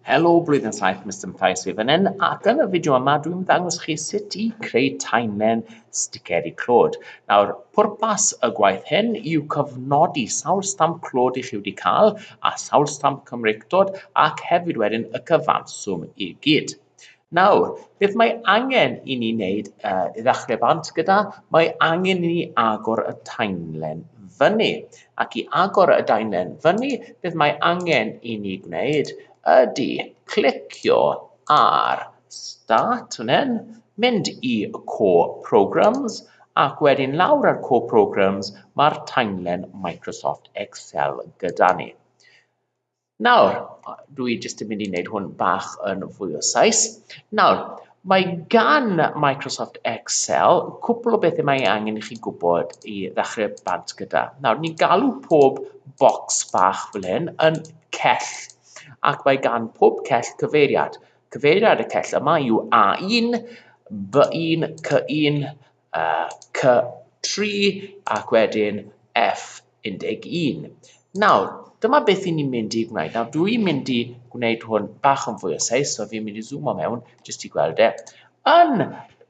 Helo Blwyddyn 7 Mister Mathau sydd fan hyn ac yn y fideo yma dwi'n ddangos chi sut i creu timeline sticeri clod. Nawr, pwrpas y gwaith hyn yw cofnodi sawl stamp clod i chi wedi cael a sawl stamp Cymreictod ac hefyd wedyn y cyfanswm i gyd. Nawr, beth mae angen i ni wneud uh, i ddechrau bant gyda, mae angen i ni agor y taenlen fyny. Ac i agor y daenlen fyny, beth mae angen i ni gwneud ydy clicio ar Start fan hyn, mynd i Core Programs, ac wedyn lawr ar Core Programs mae'r taenlen Microsoft Excel gyda ni. Nawr, dwi jyst yn mynd i wneud hwn bach yn fwy o sais. Nawr, mae gan Microsoft Excel cwpl o bethau mae angen i chi gwybod i ddechrau bant gyda. Nawr, ni'n galw pob bocs bach fel hyn yn cell, ac mae gan pob cell cyfeiriad. Cyfeiriad y cell yma yw A1, B1, C1, C3 ac wedyn F11. Nawr, dyma beth i ni'n mynd i gwneud. Nawr, dw i'n mynd i gwneud hwn bach yn fwy o seis, so fi'n mynd i zoomo mewn, jyst i gweld e. Yn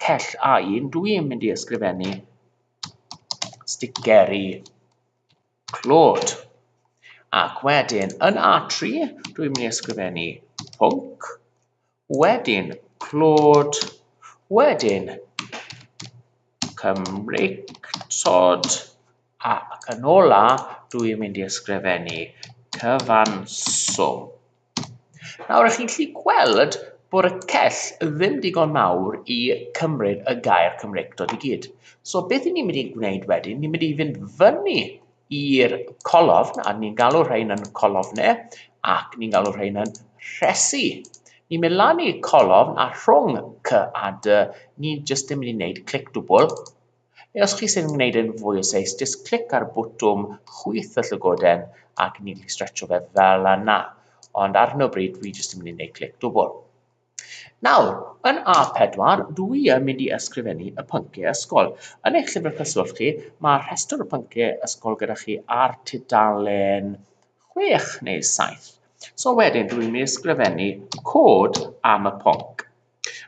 cell A1, dw i'n mynd i ysgrifennu sticeri Clod. Ac wedyn, yn A3, dwi'n mynd i ysgrifennu pwnc, wedyn clod, wedyn Cymreictod, ac yn ola, dwi'n mynd i ysgrifennu cyfanswm. Nawr, chi'n gallu gweld bod y cell ddim digon mawr i cymryd y gair Cymreictod i gyd. So beth i ni'n mynd i gwneud wedyn, ni'n mynd i fynd fyny i'r colofn, a ni'n galw rhain yn colofnau, ac ni'n galw rhain yn rhesi. Ni'n mynd lan i colofn a rhwng C a D, ni'n jyst yn mynd i wneud clic dwbl, Os chi sy'n gwneud e'n fwy o seis, jyst clic ar bwtwm chwyth y llygoden ac ni'n gallu stretcho fe fel yna. Ond ar hyn o bryd, dwi jyst yn mynd i wneud clic dwbl. Nawr, yn A4, dwi yn mynd i ysgrifennu y pynciau ysgol. Yn eich llyfr cyswllt chi, mae rhestr o pynciau ysgol gyda chi ar tudalen 6 neu 7. So wedyn, dwi'n mynd i ysgrifennu cod am y pwnc.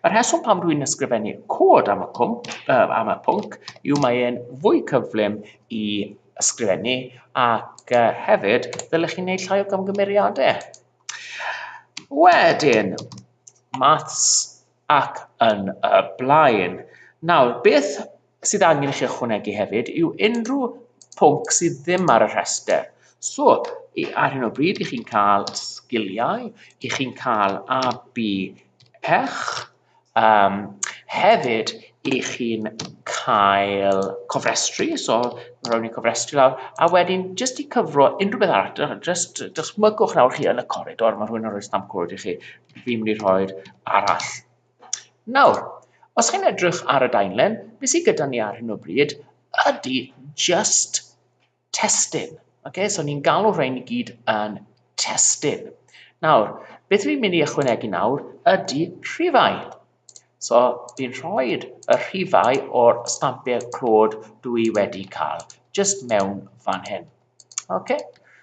Y rheswm pam rwy'n ysgrifennu cod am y, cwmp, uh, am y pwnc yw mae e'n fwy cyflym i ysgrifennu ac uh, hefyd ddylech chi'n gwneud llai o gamgymeriadau. Wedyn, maths ac yn y blaen. Nawr, beth sydd angen i chi ychwanegu hefyd yw unrhyw pwnc sydd ddim ar y rhestr. So, ar hyn o bryd, i chi'n cael sgiliau, i chi'n cael AB pech, um, hefyd i chi'n cael cofrestru, so rhawn ni cofrestru lawr, a wedyn jyst i cyfro unrhyw beth arall, jyst dychmygwch nawr chi yn y coridor, mae rhywun yn rhoi stamp cwrdd i chi, fi'n mynd i rhoi'r arall Nawr, os chi'n edrych ar y daenlen, be sydd gyda ni ar hyn o bryd ydy just testyn. Okay? So ni'n galw rhain i gyd yn testyn. Nawr, beth fi'n mynd i ychwanegu nawr ydy rhifau. So fi'n rhoi y rhifau o'r stampau clod dw i wedi cael, just mewn fan hyn. Okay?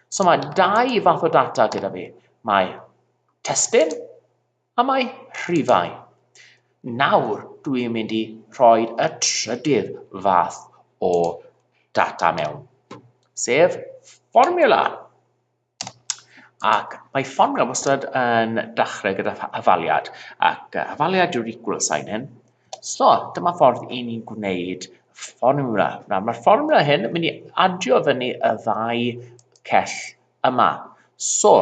So mae dau fath o data gyda fi. Mae testyn Am ei rhifau. Nawr dw i'n mynd i rhoi y trydydd fath o data mewn, sef fformiwla. Ac mae fformiwla wastad yn dechrau gyda hafaliad, ac hafaliad yw'r equal sign hyn. So, dyma ffordd i ni'n gwneud fformiwla. Nawr, mae'r fformiwla hyn yn mynd i adio fyny y ddau cell yma. So,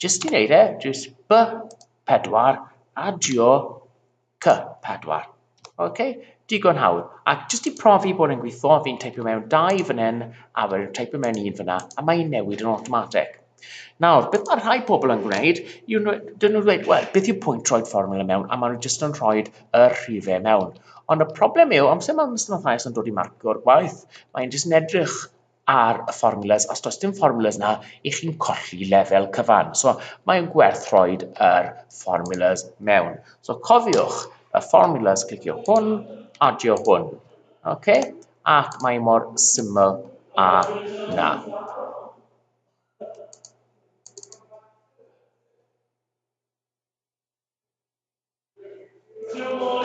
jyst i wneud e, jyst B4, adio C4. OK, digon hawdd. Ac jyst i profi bod e'n gweithio, fi'n teipio mewn dau fan hyn, a wedyn teipio mewn un fyna, a mae'n newid yn automatic. Nawr, beth mae rhai pobl yn gwneud, yw dyn nhw'n dweud, wel, beth yw pwynt troed fformula mewn, a maen nhw jyst yn rhoi y rhifau mewn. Ond y problem yw, amser mae'r mathemathaus yn dod i marcio'r gwaith, mae'n jyst yn edrych ar y formulas, os does dim formulas na, i chi'n colli lefel cyfan. So mae'n gwerth rhoi yr formulas mewn. So cofiwch y formulas, clicio hwn, adio hwn. Okay? Ac mae mor syml a na. Two more,